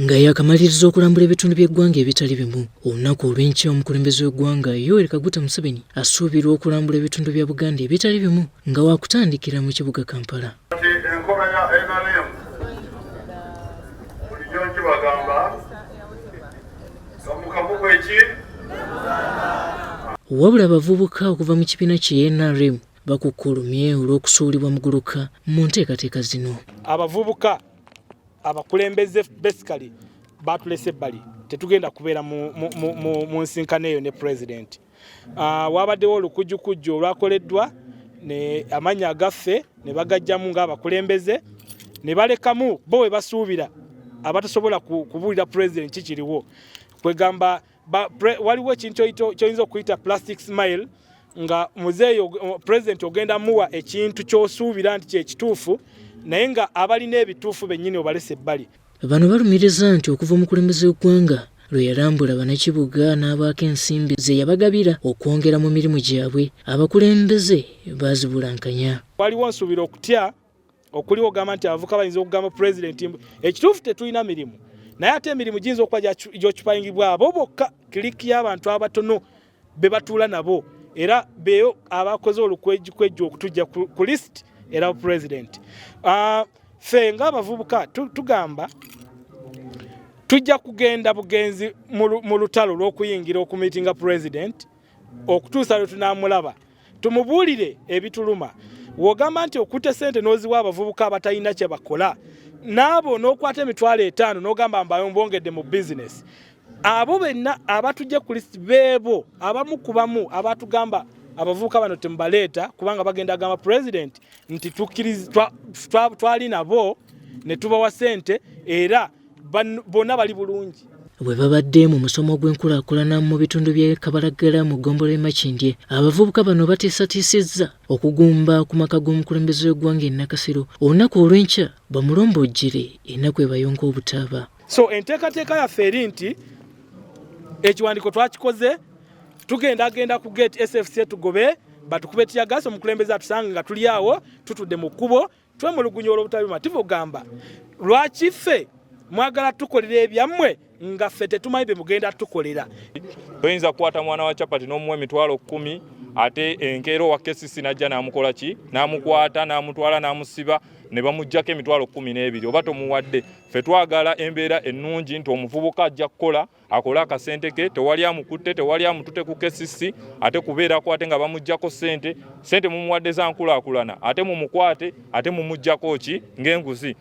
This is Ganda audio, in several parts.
nga yakamaliriza okulambula ebitundu by'eggwanga ebitali bimu olunaku olw'enkya omukulembeze w'eggwanga yoweri kaguta museveni asuubirwa okulambula ebitundu bya buganda ebitali bimu nga wakutandikira mu kibuga kampala enkola ya nrm bulijjo nkibagamba gamukamuku eki wabula abavubuka okuva mu kibiina kye nrm bakukkulumye olw'okusuulibwa muguluka mu nteekateeka zino. Abavubuka abakulembeze basically baatulese ebbali tetugenda kubeera mu nsinkano eyo ne pulezidenti. Ah, waabaddewo olukujjukujju olwakoleddwa amannya agaffe ne bagajjamu ng'abakulembeze ne balekamu bo we basuubira abatasobola kubuulira pulezidenti kikiriwo kwegamba waliwo ekintu kyoyinza okuyita plastic smile nga muzeeyi president ogenda muwa ekintu kyosuubira nti kyekituufu naye nga abalina ebituufu bennyini obalesa ebbali bano balumiriza nti okuva omukulembeze w'eggwanga lwe yalambula banakibuga n'abaako ensimbi ze yabagabira okwongera mu mirimu gyabwe abakulembeze baazibulankanya waliwo nsuubira okutya okuliwo ogamba nti abavuka bayinza okugamba pulezidenti mbu ekituufu tetulina mirimu naye ate emirimu giyinza okuba gyokipayingibwa abo bokka kiriki y'abantu abatono be batuula nabo era beyo abakoze olukwejjukwejju okutujja ku list era pulezidenti ah, fe ngaabavubuka tugamba tujja kugenda bugenzi mu lutalo lw'okuyingira okumitinga pulezidenti okutuusa lwe tunaamulaba tumubuulire ebituluma wogamba nti okute sente noziwa abavubuka abatalina kyebakola naabo nokwata emitwalo etaano nogamba mbayo mbongedde mu bizinesi abo benna abatujja ku list beebo abamu ku bamu abatugamba abavubuka bano temubaleeta kubanga bagenda agamba president nti twali nabo ne tubawa sente era bona bali bulungi bwe babadde mu musomo gw'enkulaakulana mu bitundu by'e kabalagala mu ggombolola emakindye abavubuka bano bateesatiisizza okugumba ku maka g'omukulembeze w'eggwanga enakasiro olunaku olw'enkya bamulombojjere enaku ebayonka obutaaba so enteekateeka yaffe eri nti ekiwandiiko twakikoze tugenda agenda ku gate sfc tugobe batukube tiyagasi omukulembeze atusange nga tuli awo tutudde mu kkubo Twemulugunya olw'obutali bumativu ogamba lwaki ffe mwagala tukolera ebyammwe nga ffe tetumanyi bye mugenda tukolera. Toyinza kukwata mwana wa capati n'omuwa emitwalo kkumi ate enkeera owa KCC n'ajja n'amukola ki n'amukwata n'amutwala n'amusiba ne bamuggyako emitwalo kkumi n'ebiri oba tomuwadde. Ffe twagala embeera ennungi nti omuvubuka ajja kukola. akole akasente ke tewali amukutte tewali amutute ku kesisi ate kubeerako ate nga bamuggyako sente sente mumuwadde za nkulaakulana ate mumukwate ate mumuggyako ki ng'enguzi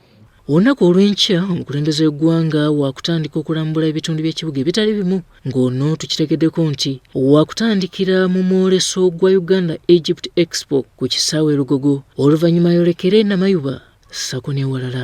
olunaku olw'enkya omukulembeze w'eggwanga waakutandika okulambula ebitundu by'ekibuga ebitali bimu ng'ono tukitegeddeko nti waakutandikira mu mwoleso gwa uganda egypt expo ku kisaawe lugogo oluvannyuma yolekere namayuba sako n'ewalala